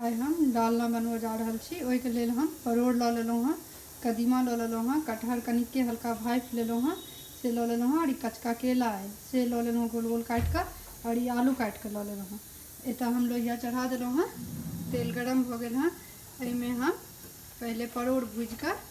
आइ हम डालना बनबऽ जा रहल छी ओहिके लेल हम परोड़ लऽ लेलहुँ हँ कदीमा लऽ लेलहुँ हँ कटहर कनिके हल्का भापि लेलहुँ हँ से लऽ लेलहुँ हँ आओर ई कचका केला अइ से लऽ लेलहुँ गोल गोल काटिकऽ आओर ई आलू काटिकऽ लऽ लेलहुँ हँ एतऽ हम लोहिआ चढ़ा देलहुँ हँ तेल गरम भऽ गेल हँ एहिमे हम पहिले परोड़ भुजिकऽ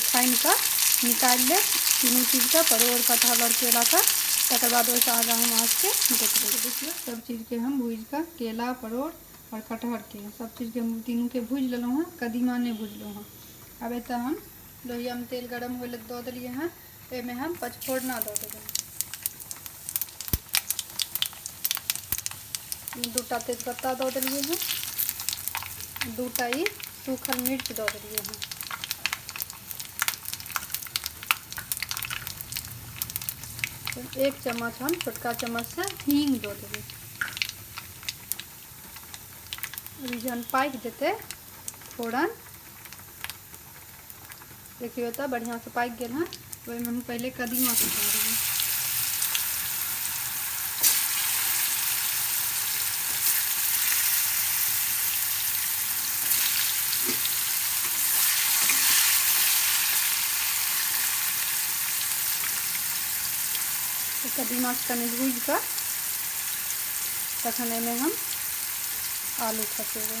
छानि कऽ निकालि लेब तीनू चीजके परोर कटहल आओर केलाके तकर बाद ओहिसँ आगाँ हम अहाँके देखबै देखियौ सब चीजके हम भूजि कऽ केला परोर आओर कटहरके सब चीजके हम तीनूके भूजि लेलहुँ हँ कदीमा नहि भूजलहुँ हँ आब एतऽ हम लोहियामे तेल गरम होइ लए दऽ देलियै हँ एहिमे हम पचफोरना दऽ देबै दूटा तेजपत्ता दऽ देलिए हँ दूटा ई सूखल मिर्च दऽ देलिए हँ एक चम्मच हम छोटका चम्मच से हींग दऽ देबै जहन पाकि जेतै फोरन देखियौ तऽ बढ़िआँसँ पाकि गेल हँ ओहिमे हम पहिले कदीमा सुखा देबै कदीमा कनि भूजि कऽ तखन एहिमे हम आलू खसेबै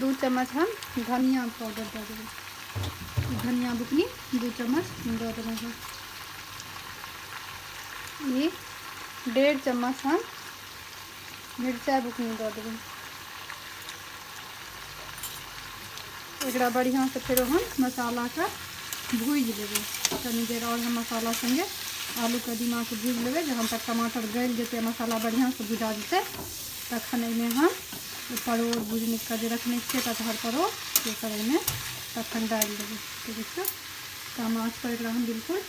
दू चम्मच हम धनिया पाउडर दऽ देबै धनिया बुकनी दू चम्मच दऽ देबै हम ई डेढ़ चम्मच हम मिरचाइ बुकनी दऽ देबै एकरा बढ़िया से फिर हम मसाला के भूज लेबे तनी देर और हम मसाला संगे आलू कदीमा के भूज लेबे जहन तक टमाटर गल जेते मसाला बढ़िया से भुजा जेते तखन एहिमे हम ई परोड़ भुजने के जे रखने छियै कटहर परोड़ से सब एहिमे तखन डालि देबै तऽ देखियौ कम आँच पर एकरा हम बिल्कुल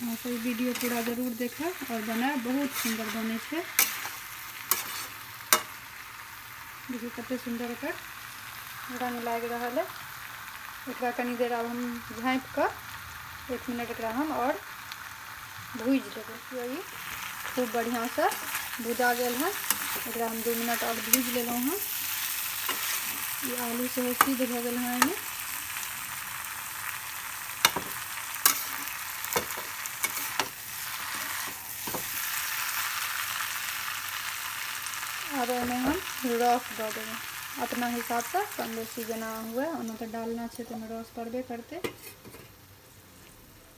अहाँसभ वीडियो पूरा जरूर देखब आओर बनायब बहुत सुन्दर बनै छै देखियौ कतेक सुन्दर एकर रङ्ग लागि रहल है एकरा कनी देर आब हम झाँपि कऽ एक मिनट एकरा हम आओर भूजि लेबै देखियौ ई खूब बढ़िआँसँ भुजा गेल हँ एकरा हम दू मिनट आओर भूजि लेलहुँ हँ ई आलू सेहो सिद्ध भऽ गेल हँ एहिमे आब ओहिमे हम रस दऽ देबै अपना हिसाबसँ कम बेसी जेना हुए ओना तऽ डालना छै तऽ ओहिमे रस पड़बे करतै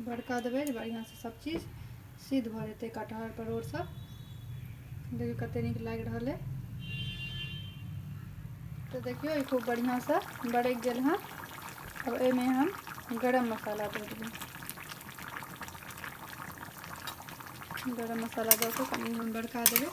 बड़का देबै जे बढ़िआँसँ सभचीज सिद्ध भऽ जेतै कटहर परोड़ सब देखियौ कते नीक लागि रहल अइ तऽ देखियौ ई खूब बढ़िआँसँ बरकि गेल हँ अब एहिमे हम गरम मसाला दऽ देबै गरम मसाला दऽ कऽ कनि हम बड़का देबै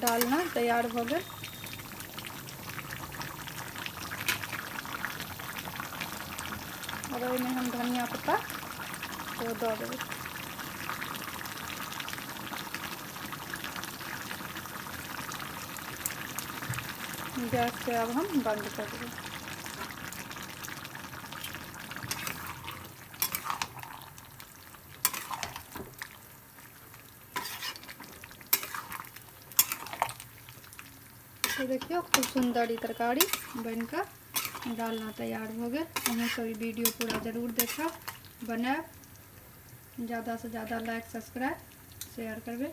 डालना तैयार भऽ गेल और ओहिमे हम धनिया पत्ता ओ दऽ देबै गैस के अब हम बंद कर देबै तो देखियो खूब सुंदर ये तरकारी बनकर डालना तैयार हो गए अहूँ सब वीडियो पूरा जरूर देखा बनाए ज़्यादा से ज़्यादा लाइक सब्सक्राइब शेयर करबे